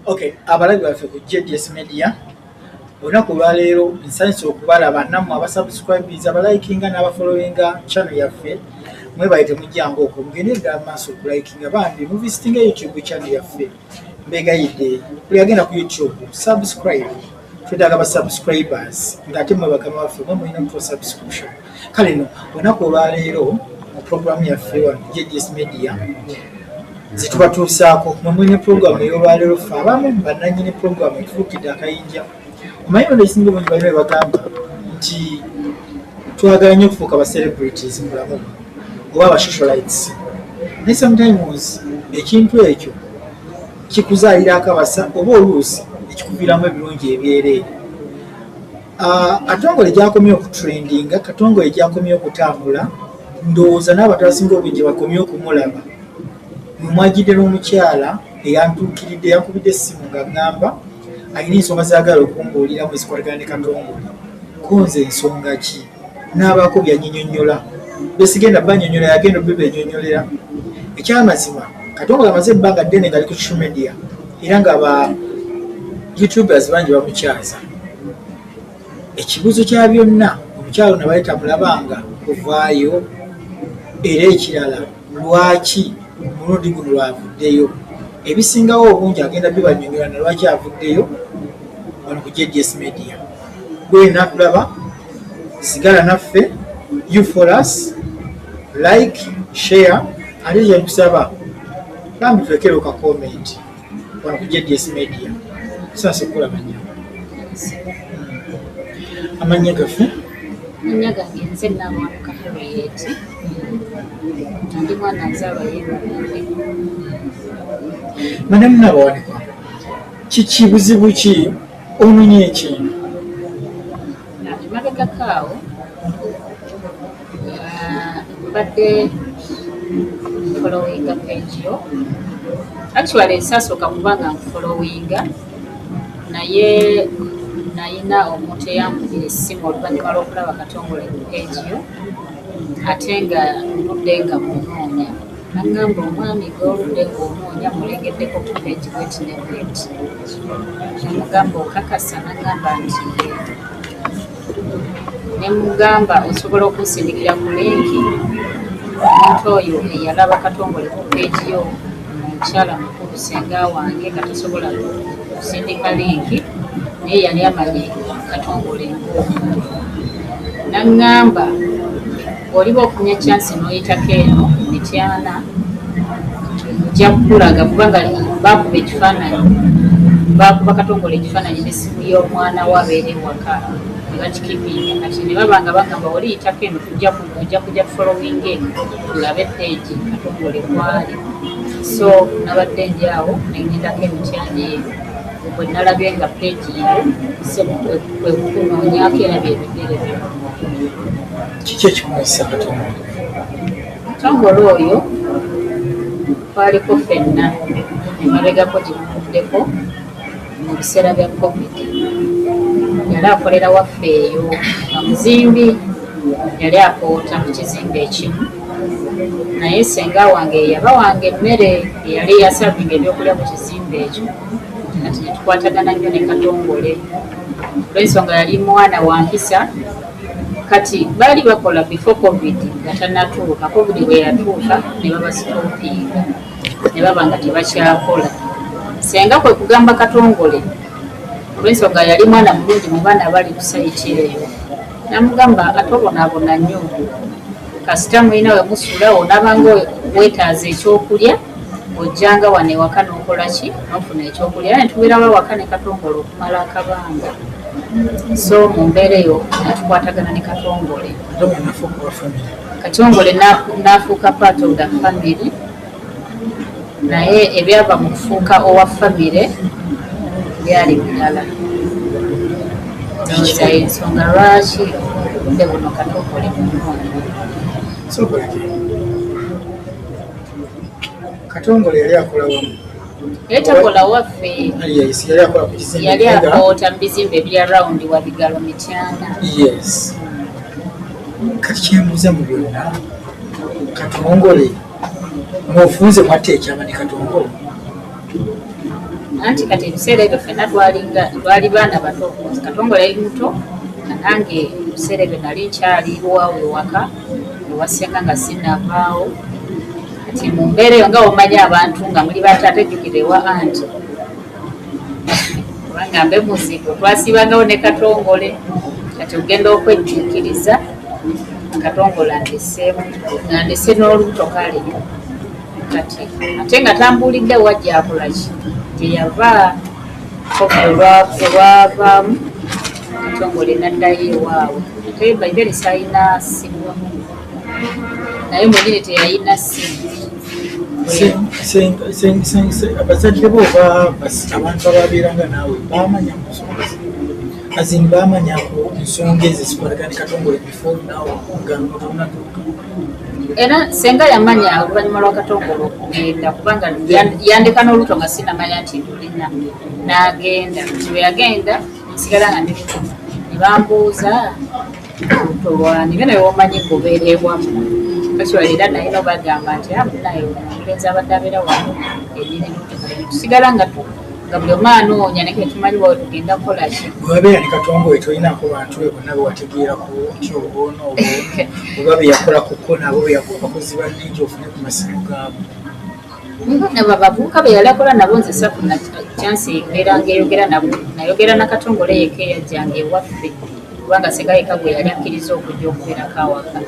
Okay, abalabi baffe ku JDS Media olunaku olwaleero nsanyusa okubalaba nammwe abasubscribes abalikinga n'abafollowinga channel yaffe mwebaye temujjangu okwo mugende ddala maaso okulikinga bambi muvisitinga youtube channel yaffe mbegayidde buli agenda ku youtube subscribe twetaaga ba subscribers ng'ate mwe bakama waffe mwe mulina mutwa subscription kale no olunaku olwaleero mu programu yaffe wano jgs media zitubatuusaako mwe mulina programu ey'olwaleero ffe abamu bananyini programu etufuukidde akayinja omanyi ono ekisinga obungi balina ebagamba nti twagala nnyo okufuuka ba celebrities mu bulamu oba ba socialites naye sometimes ekintu ekyo kikuzaalira akabasa oba oluusi ekikuviiramu ebirungi ebyereere ah, katongole gyakomye okutrendinga katongole gyakomye okutambula ndowooza n'abantu abasinga obungi bakomye okumulaba mwemwajidde n'omukyala eyantuukiridde yankubidde essimu nga ŋŋamba alina ensonga zaagala okumbuuliramu ezikwatagana ne katongole konze ensonga ki n'abaako byanyinyonyola besigenda banyonyola yagenda obibenyonyolera ekyamazima katongole amaze ebbanga ddene ngali ku social media era nga ba youtubers bangi bamukyaza ekibuzo kya byonna omukyalo nabali tamulabanga kuvaayo era ekirala lwaki omulundi guno lwavuddeyo ebisingawo obungi agenda bibanyonyola nalwaki avuddeyo wano ku jds media gwena tulaba sigala naffe you for us like share ate yenkusaba bambi tulekero ka comment wano ku jds media tusanse okukola manya amanya gaffe manya gange nze namwanuka harriet ndi mwana nzalwa yebaee madamu nabawanika kiki buzibu ki Ononye ekintu. Emabega kaawo mbadde followinga page yo actually sasooka kuba nga nkufollowinga naye nayina omuntu eyambugira essimu oluvannyuma lw'okulaba katongole page yo ate nga mbudde nga munoonya Nagamba omwami gw'oludde ng'onoonya mmulengeddeko ku peegi bweti ne bweti ne mmugamba okakasa n'aŋŋamba nti yee ne mmugamba osobola okunsindikira ku linki omuntu oyo eyalaba Katongole ku peegi yo nga mukyala mukulu ssenga wange nga tasobola kusindika linki naye yali amanyi Katongole ng'omuntu n'aŋŋamba Oliba ofunye chance noyitako eno Mityana nja kukulaga kubanga bakuba ekifaananyi bakuba katongole ekifaananyi nesimu y'omwana we abeera ewaka nebakikipinga kati nebaba nga bagamba oli yitako eno tujja kuja kuja following eno tulabe peegi katongole kwali so nabadde ndi awo nengendako emityana eyo bwe nalabye nga peegi yo kwekunoonyako era byebigere byo Kiki ekikumanyisa kati omuntu? Omutongole oyo twaliko ffenna emabegako gye buvuddeko mu biseera bya Covid. Yali akolera waffe eyo nga muzimbi, yali akoota mu kizimbe ekimu naye senga wange yeyaba wange emmere eyali eyasavinga ebyokulya mu kizimbe ekyo kati netukwatagana nnyo ne katongole olwensonga yali mwana wa mpisa Kati baali bakola before covid nga tanatuuka covid bweyatuuka nebabasitopinga nebaba nga tebakyakola senga kwekugamba katongole olwensonga yali mwana mulungi mubaana bali kusayiti eyo namugamba atobonabona nyo kasita mulina we musula onabanga wetaaza ekyokulya ojjanga wano ewaka n'okola ki nofuna ekyokulya naye tubeerawo awaka ne katongole okumala akabanga so mu mbeera eyo netukwatagana ne katongole katongole n'afuuka part of the family Naye ebyava mu kufuuka owa ffamire byali birala. Ndowooza y'ensonga lwaki obudde buno Katookolo emunoonye. Katongole yali akola wa? Yali takola waffe. Yali akoota mu bizimbe ebiri around Wabigalo, Mityana. Yes. Kati kyembuuza mu byonna Katongole. Mwofunze mwatta ekyama ne Katongo. Anti kati ebiseera ebyo fena twalinga twali baana bato katongo yali muto nange ebiseera ebyo nali nkyali wawe waka ewasenga nga sinavaawo kati mumbeera eyo nga womanyi abantu nga muli bato atejukirewa anti kubanga mbe muzigo twasiibangawo ne katongole kati ogenda okwejjuukiriza katongole andeseemu andese n'olubuto kale kati ate nga tambuulidde wajjakolaki gyeyava olwavaamu katongole naddayo ewaabwe ate baibere salina simu naye omugere teyalina abazadde bo oba abantu ababeeranga naawe bamanya musomozi azin bamanya ku nsonga ezo zikwatagani katongole before now nga notonatuuka era senga yamanya oluvannyuma lwa katongole okugenda kubanga yandeka n'oluto nga sinamanya nti ndulina n'agenda nti bwe yagenda nsigala nga ndi ne bambuuza Tolwani bino byomanyi kubeera ewamwe especially era naye nobagamba nti ah, munaye omulenzi abadde abeera wano enyinimusigala nga nga buli omu anoonya naye ketumanyi wawe tugenda kukola ki webeera ne katongo we tolinako bantu be bonna bewategeerako nti obwono obwono oba beyakola kuko nabo beyakola bakozi banningi ofune ku masimu gaabo Nabo abavubuka be yali akola nabo nze safuna kyansi mbeera ng'eyogera nabo nayogera na Katongole yekka eyajjanga ewaffe kubanga singa yekka gwe yali akkiriza okujja okubeerako awaka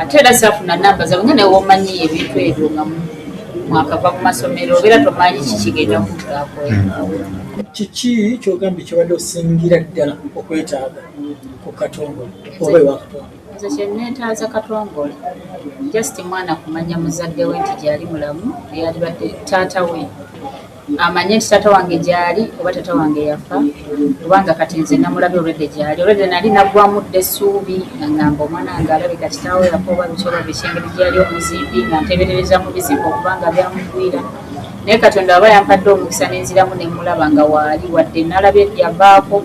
ate era saafuna namba zabwe nga nawe womanyi ebintu ebyo nga mwakava mu masomero obeera tomanyi kikigenda okuggaako kiki kyogambye kyobadde osingira ddala okwetaaga ku Katongole oba ewa Katongole? Nze kyenneetaaza Katongole just mwana kumanya muzadde we nti gyali mulamu eyalibadde taata we amanye nti taata wange gyali oba taata wange yafa kubanga kati nze namulabi olwedde gyali olwedde nali naggwamu dda essuubi nangamba omwana wange alabika kitaawo yafa oba biki oba biki engeri gyeyali omuzimbi nga nteberereza mu bizimba okubanga byamugwira naye katonda aba yampadde omukisa nenziramu nemulaba nga waali wadde nalabye byabaako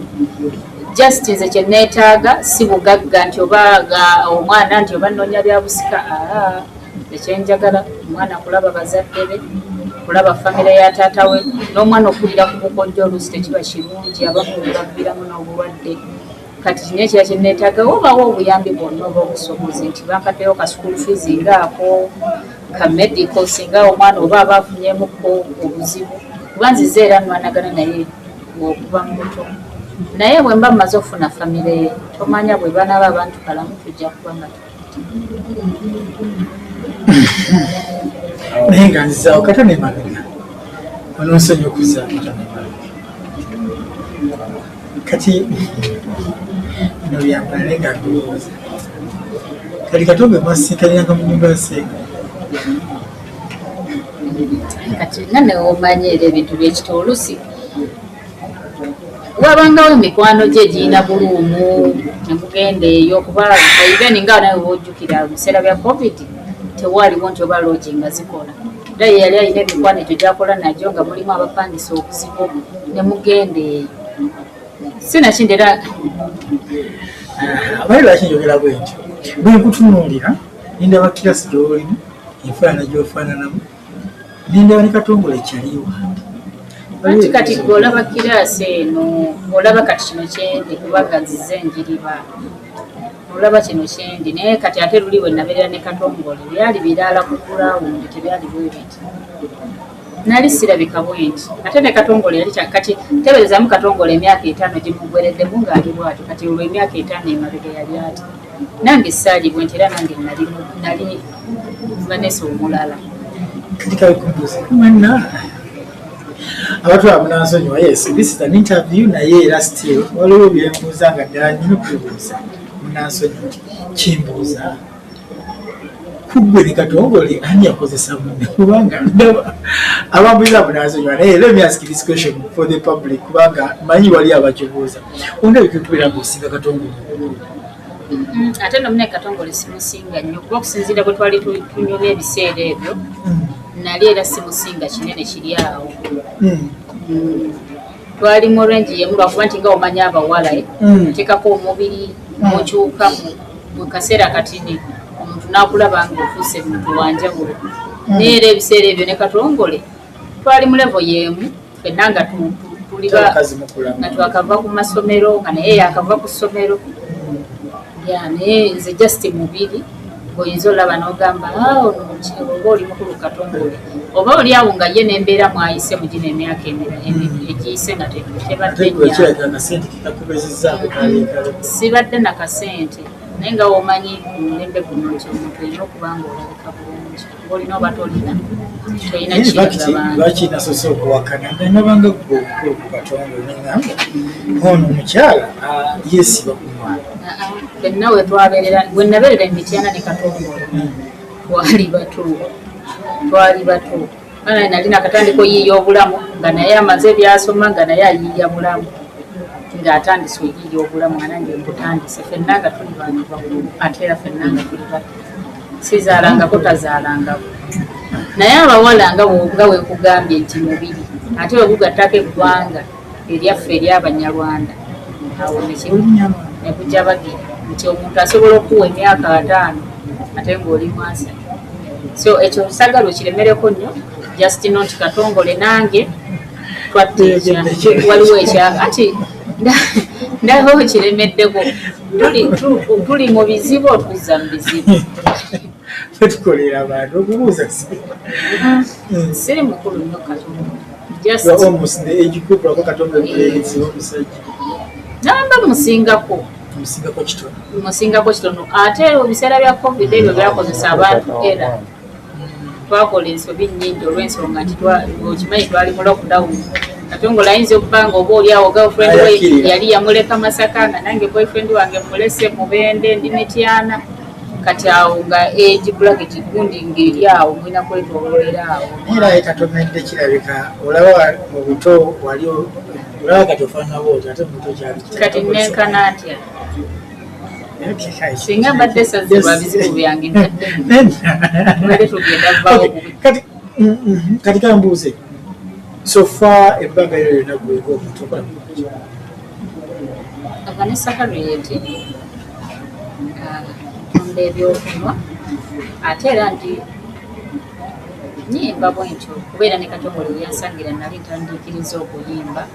Just nze kyenetaaga si bugagga nti oba ga omwana nti oba nonya byabusika aah ekyenjagala omwana kulaba bazadde be kulaba famire ya taata we n'omwana okulira ku bukojja oluusi tekiba kirungi abamu bebaviramu n'obulwadde kati kino ekira kyenetaaga wobawo obuyambi bwonna oba obusobozi nti bankaddeyo ka school fees nga ako ka medical singa omwana oba aba afunyemukko obuzibu kuba nzize era nwanagana naye okuva mu buto naye bwe mba mmaze okufuna famire ye tomanya bwe banaaba abantu kalamu tujja kuba nga naye nga nzizaawo kata nemabega ononsonyi okuzaa kata nemabega kati bino byampala naye nga ndowooza kati kati obe mwasiikaniranga mu nyumba yaseeka kati nga newomanyi era ebintu byekita olusi wabangawo emikwano gye egirina buluumu nemugenda eyo kuba even nga nawe wojjukira mu biseera bya covid tewaaliwo nti oba loogi nga zikola era ye yali alina emikwano egyo gyakola nagyo nga mulimu abapangisa obuzibu nemugenda eyo sinakindi era abali lwaki njogera bwentyo bwenkutunuulira nindabakkira sigyolimu enfaanana gyofaananamu Nindaba ne Katongole Chali wange. Anti kati gwe olaba kiraasi eno olaba kati kino kyendi kubanga nzize njiriba olaba kino kyendi naye kati ate luli we nabeerera ne katongole byali biraala ku kulawundi tebyali bwebiti nali sirabika bwenti ate ne katongole yali kati teberezamu katongole emyaka etaano gimugwereddemu ng'ali bwatyo kati olwo emyaka etaano emabega yali ati Nange saalibwe nti era nange nali nali Vanessa omulala. Kati kawe kumbuze mwana abantu abo nansonyiwa yes this is an interview naye era still waliwo byembuuza nga ddala nyina okubibuuza munansonyiwa kimbuuza kuggwe ne katongole ani yakozesa munne kubanga ndaba abambuuza abo nansonyiwa naye let me ask this question for the public kubanga manyi wali abakibuuza ondabika okubeera ngaosinga katongole Mm, ate no mune katongole simusinga nnyo kuba okusinziira bwe twali tunyumya ebiseera ebyo mm. nali era simusinga kinene kiri awo mm. twali mu rangi yemu lwakuba nti nga omanya abawala eh, oteekako omubiri mukyuka mu kaseera katini omuntu nakulaba nga ofuuse muntu wanjawulo naye era ebiseera ebyo ne katongole twali mu levo yemu fenna nga tuliba nga twakava ku masomero nga naye yakava ku ssomero ya naye nze just mubiri oyinza olaba n'ogamba ah, ono mukyalo oba oli mukulu katongole oba oli awo nga ye nembeera mwayise mu gino emyaka egiyise nga tebaddenyasibadde nakasente naye nga womanyi mulembe guno nti omuntu olina okuba nga olabika bulungi olina oba tolina lwaki nasose okuwakana nabanga gwe omukulu ku katonda onengamba ono omukyala yesiba ku mwana fenna wetwaberera wenaberera emityana ne katonda hmm. twali bato twali bato ana nali nakatandika oyiiya obulamu nga naye amaze ebyasoma nga naye ayiiya bulamu ng'atandise oyiiya obulamu anange mbutandise fenna nga tuli bantu bakulu ate era fenna nga tuli bato sizaalangako tazaalangako naye abawala nga nga wekugambye nti mubiri ate wegugattako eggwanga eryaffe eryabanyarwanda awo nekuja bagira nti omuntu asobola okuwa emyaka ataano ate ngaoli mwasa so ekyo nsagala okiremereko nnyo just not katongole nange twatteekya waliwo ekyaka ati ndaba okiremeddeko tuli mu bizibu otuzza mu bizibu tukolera abantu okubuuza siri mukulu nyo katondanamba musingako musingako kitono ate ebiseera bya covid ebyo byakozesa abantu era twakola ensobi nnyingi olw'ensonga nti okimanyi twali mu lockdown ate nga olayinza okuba nga oba oli awo girlfriend we yali yamuleka masaka nga nange boyfriend wange mulese mubende ndi mityana kati awo nga egi black kigundi nga eri awo mulina kwetololera awo era ye katomedde kirabika olaba mu buto wali olaba kati ofaanana bwoti ate mu buto kyali kati nenkana ntya singa mbadde esaze lwa bizibu byange mbadde tugenda vawo kati kambuuze sofa ebbanga yo yona gweka omuntu okola vanessa harriet ntunda uh, ebyokunywa ate era ndi nyimba bwentyo kubeera ne katongole yansangira nali ntandiikiriza okuyimba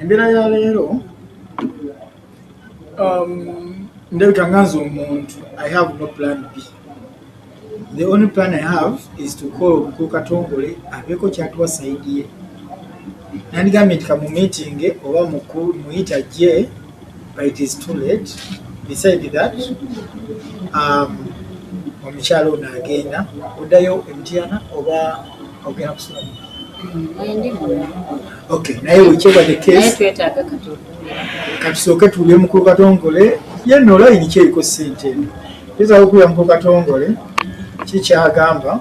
embeera ya leero um, ndabika nga nze omuntu i have no plan b the only plan i have is to call omukulu katongole abeeko kyatuwa saidi ye nandigambye nti kamumitinge oba mukulu muyita je but it is too late beside that um, omukyala ono agenda oddayo emitiana oba ogera kusula naye wekyebade katusooke tuwulire mukulu katongole yenna olayini kyeriko sente eno tuzaga okuwulira mukulu katongole kikyagamba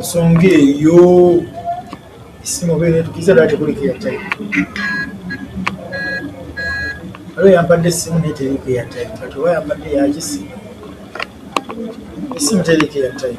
nsonga eyo esimu obeera etukiza dala tekulika eyatayi waliwo yampadde esimu naye teriko eyatayi kati oba yampadde yakisimu esimu teriko eyatayi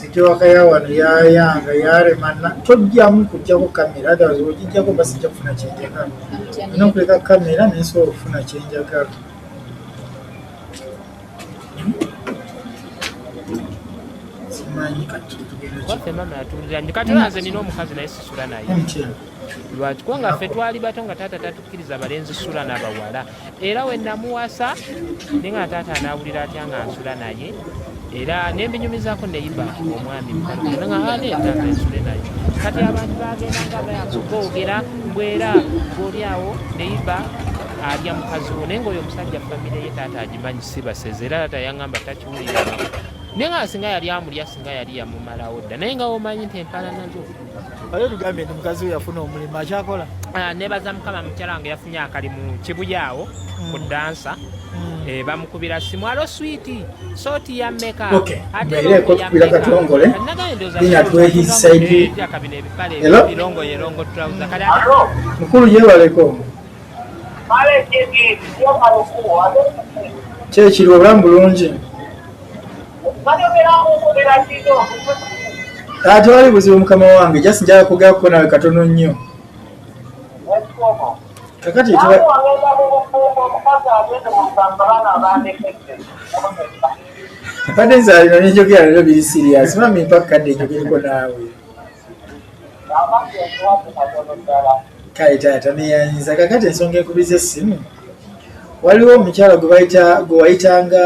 Sitewaka ya wano yayanga yarema tojjamu kujjako kamera otherwise wogijjako mba sijja kufuna kyenjagala olina okuleka kamera nensobola okufuna kyenjagala katibanze nina omukazi naye sisula naye lwaki kubanga ffe twali bato nga taata tatukkiriza balenzi sula nabawala era we namuwasa naye nga taata anaawulira atya nga nsula naye era nembinyumizaako neyiba omwami mukalunaaaeetaata ensule naye kati abantu bagenda nga bayakugoogera mbwera goli awo neyiba alya mukazi wo naye ngaoyo omusajja famire ye taata agimanyi si baseze era taata yaŋamba takiwulira naye nga singa yali amulya singa yali yamumalawo dda naye nga womanyi nti empalanazo Wale tugambe ndi mukazi we yafuna omulimu akyakola. Ah nebaza mukama mukyala wange yafunye akalimu kibuyawo mm. ku dansa. Mm. Eh bamukubira simu alo sweet soti ya meka. Okay. Ate ile ko kubira katongole. Ina twe his side. Ya kabine bipale bilongo yelongo trouser kale. Alo. Mkulu yewa alaikum. Pale kiti yo kalokuwa. Chechi lwa bulungi. tewali buzibu mukama wange just njala kugako nawe katono nnyo kakati mbadde nzaalino nenjogera lero biri sirias mami mpaka kadde njogereko naawe kale taata neyanyiza kakati ensonga ekubiza essimu waliwo omukyala gwebayita gwewayitanga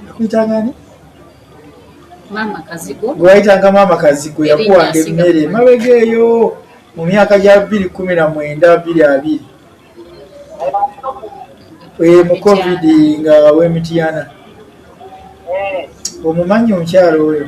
akuyitangani gwewayitanga maama kazigo yakuwanga emmere mabega eyo mu myaka gya bbiri kumi na mwenda bbiri abiri eh, mu covid nga wemitiyana eh. omumanyi omukyalo oyo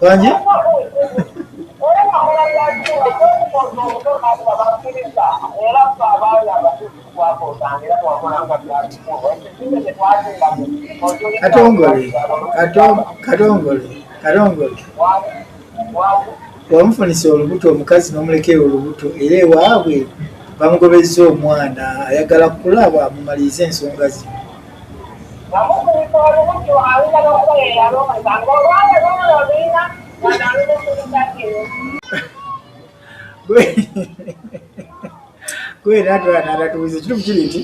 Bangi. Katongole, katongole, katongole. Wamufunisa olubuto omukazi n'omulekera olubuto era ewaabwe bamugobezza omwana ayagala kulaba mumalirize ensonga zino. kwera atatubuza ekitufu kiri nti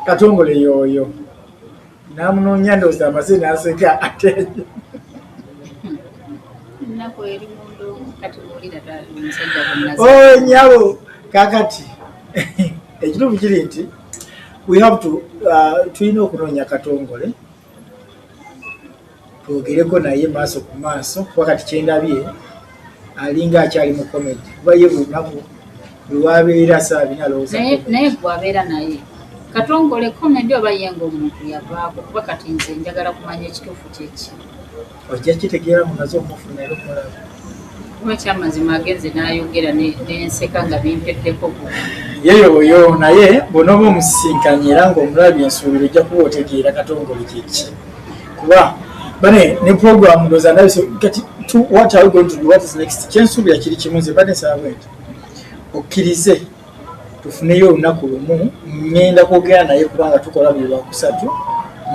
katongole yooyo namunoonya ndooza amaze naseka ate oh, nyabo kakati ekitufu kiri nti we have to uh, tulina okunoonya katongole twogereko naye maaso ku maaso kuba kati kyendabye alinga akyali mu komedi kuba ye buli lunaku lwabeera saabina alowoozaye gwabeera naye katongole komedi oba ye ngaomuntu yavaako kuba kati nze njagala kumanya ekituufu kyeki ojja kitegeera mumaze omufuna era omulaba kuba ekyamazima agenze n'ayogera nenseka nga bimpeddeko yeyo oyo naye bwonooba omusisinkanye era ngaomulabi ensuubira ojja kuba otegeera katongole kyeki kuba bane ne program ndoza ndabise kati what are we going to do what is next kyensuubira kiri kimu nze bade nsaba bwenti okkirize tufuneyo olunaku lumu ŋŋenda kwogera naye kubanga tukola buli lwakusatu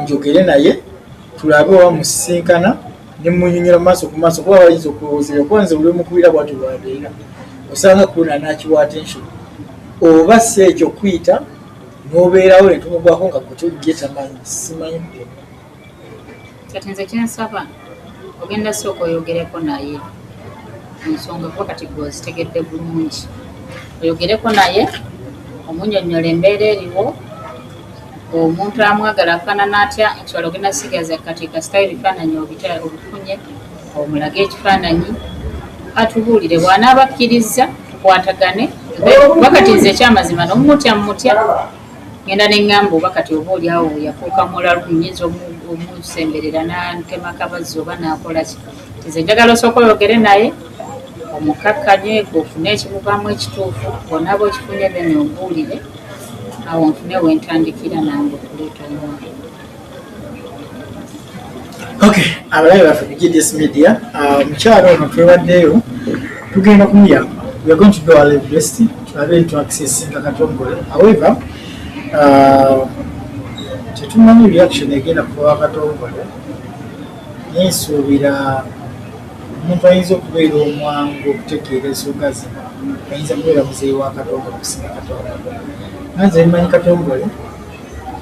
njogere naye tulabe oba musisinkana ne munyonyola mu maaso ku maaso kuba bayinza okulowoozera okuba nze buli omukubira bwatyo bwabeera osanga kuna nakiwa attention oba si ekyo kuyita n'obeerawo ne tumugwako nga kutyo gye tamanyi simanyi kati nze kyensaba ogenda sooka oyogereko naye ensonga kuba kati gwe ozitegedde bulungi oyogereko naye omunyonyola embeera eriwo omuntu amwagala afaanana atya ekiwala ogenda sigaza kati kasitayo ebifaananyi obifunye omulage ekifaananyi atubuulire bw'anaaba akkirizza tukwatagane wakati nze ekyamazima nomumutya mumutya Ngenda ne ngamba oba kati oba oli awo yafuuka mulalu nyinza omusemberera nantema kabazzi oba nakolaki tize njagala osooka oyogere naye omukkakkanye ofune ekimuvaamu ekituufu onaaba okifunye then ombuulire awo nfune wentandikira nange okuleeta omwana Okay, abalabe baffe ku GDS Media, ah, omukyalo ono twebaddeyo tugenda kumuyamba. We are going to do our level best tulabe nti accessinga Katongole. However, ah, tetumanyi reaction egenda kuba Katongole. Naye nsuubira omuntu ayinza okubeera omwangu okutegeera ensonga zino ayinza kubeera muzeeyi wa Katongole okusinga Katongole. Nanze mmanyi Katongole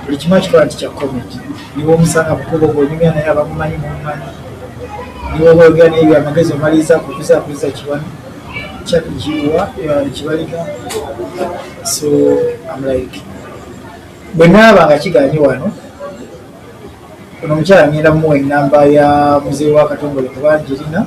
buli kimu akikola nti kya comedy niwe omusanga mukubo gonyumya naye abamumanyi mumumanyi niwe obaogera naye byamagezi omaliriza kukuza akuliza kiwani kyakiwa kibalika so am like bwe naaba nga kiganye wano ono omukyala ngenda muwa enamba ya muzeeyi wa katongole kuba ngirina